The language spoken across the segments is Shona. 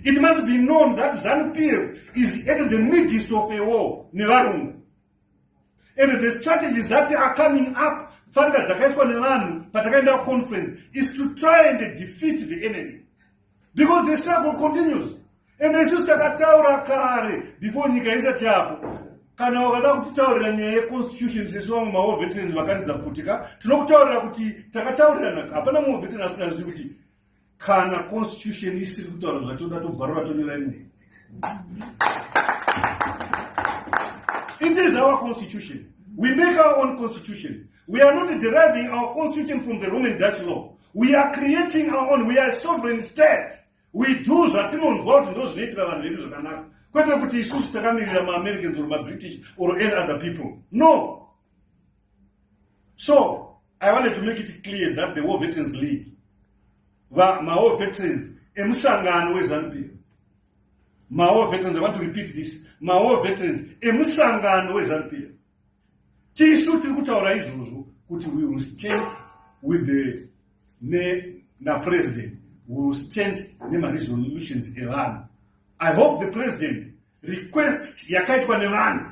It must be known that ZANU-PF is at the midst of a war nevarungu. And the strategies that are coming up, fanika dzakaiswa nevanhu patakaenda conference, is to try and defeat the enemy. Because the struggle continues. And isusu takataura kare before nyika isati yapo kana wakada kutitaurira nyaya yeconstitution sesu vamwe mawo veterans vakaridza kuti ka tinokutaurira kuti takataurirana hapana mumwe veteran asingazivi kuti kana constitution isiri kutaura zvatoda tobvarura tonera rimwe it is our constitution we make our own constitution we are not deriving our constitution from the roman dutch law we are creating our own we are sovereign state we do zvatinonzwa kuti ndo zvinoitira vanhu vedu zvakanaka kwete kuti isusu takamirira maamericans or mabritish or any other people no so I wanted to make it clear that the War Veterans League, va, my war veterans, emusangano weZanupf, my war veterans, I want to repeat this, my war veterans, emusangano weZanupf, tisu tiri kutaura izvozvo kuti we will stand with the ne na president we will stand nemaresolutions evanhu i hope the president request yakaitwa nevanhu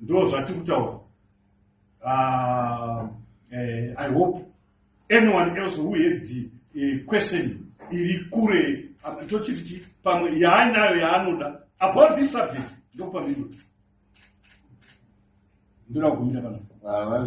ndo zvatiri kutaura uh, uh, i hope anyone else who had the uh, question iri kure tochiti chi pamwe yaainayo yaanoda about this subject ndokupamiro ndoda kugumira kana ah,